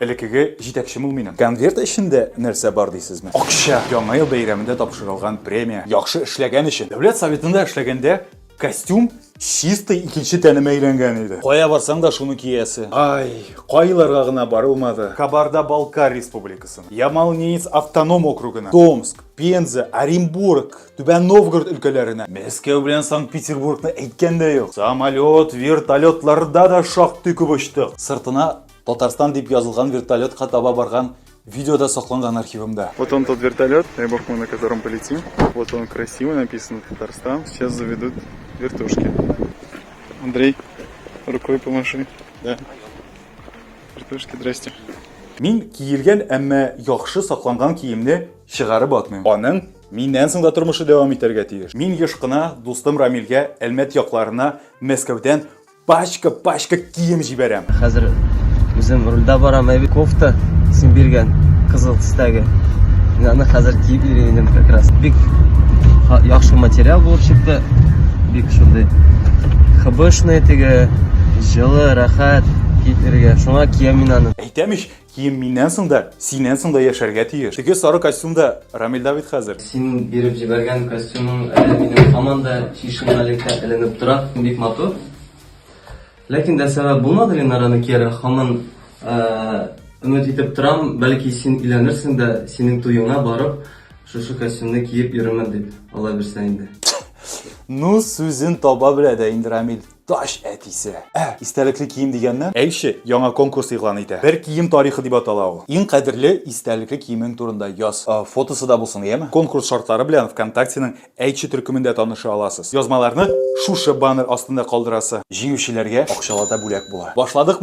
Элекеге җитәкчем ул минем. Конверт эчендә нәрсә бар дисезме? Акча! Яңа ел бәйрәмендә тапшырылган премия. Яхшы эшләгән өчен. Дәүләт Советында эшләгәндә костюм чистый икенче тәнемә әйләнгән иде. Кая барсаң да шуны киясе. Ай, кайларга гына барылмады. Кабарда-Балкар Республикасына, Ямал-Ненец автоном округына, Томск, Пенза, Оренбург, Түбән Новгород өлкәләренә, Мәскәү белән Санкт-Петербургны әйткән дә юк. Самолет, вертолетларда да шактый күп очтык. Сыртына Татарстан дип язылган вертолетка таба барган видеода сакланган архивымда. Вот он тот вертолет, дай бог мы на котором полетим. Вот он красиво написано Татарстан. Сейчас заведут вертушки. Андрей, рукой помаши. Да. Вертушки, здрасте. Мин киелгән, әмма яхшы сакланган киемне чыгарып атмыйм. Аның миннән соң да тормышы дәвам итәргә тиеш. Мин еш кына дустым Рамилгә Әлмәт якларына Мәскәүдән Пачка, пачка кием җибәрәм. Хәзер үзем рульдә барам, әби кофта син биргән кызыл төстәге. Мин аны хәзер киеп йөрим инде как раз. Бик яхшы материал булып чыкты. Бик шундый хыбышный теге, җылы, рәхәт киеп йөрергә. Шуңа киям мин аны. Әйтәм ич, Кием миннән соң да, синнән соң да яшәргә тиеш. Теге сары костюм да Рамилда бит хәзер. Синең биреп җибәргән костюмың әле минем һаман да чишмәлеккә эленеп тора, бик матур. Ләкин дә сәбәп булмады Ленараны кияргә, һаман өмет итеп торам, бәлки син өйләнерсең дә, синең туеңа барып, шушы костюмны киеп йөрермен дип, алай берсә инде. Ну, сүзен таба белә дә инде Рамил. Тач әтисе. Ә, истәлекле кием дигәннән, Әйше яңа конкурс игълан итә. Бер кием тарихы дип атала ул. Иң кадерле истәлекле киемең турында яз. Фотосы да булсын, яме? Конкурс шартлары белән ВКонтактеның Әйтче төркемендә таныша аласыз. Язмаларны шушы баннер астында калдырасы. Җиңүчеләргә акчалата бүләк була. Башладыкмы?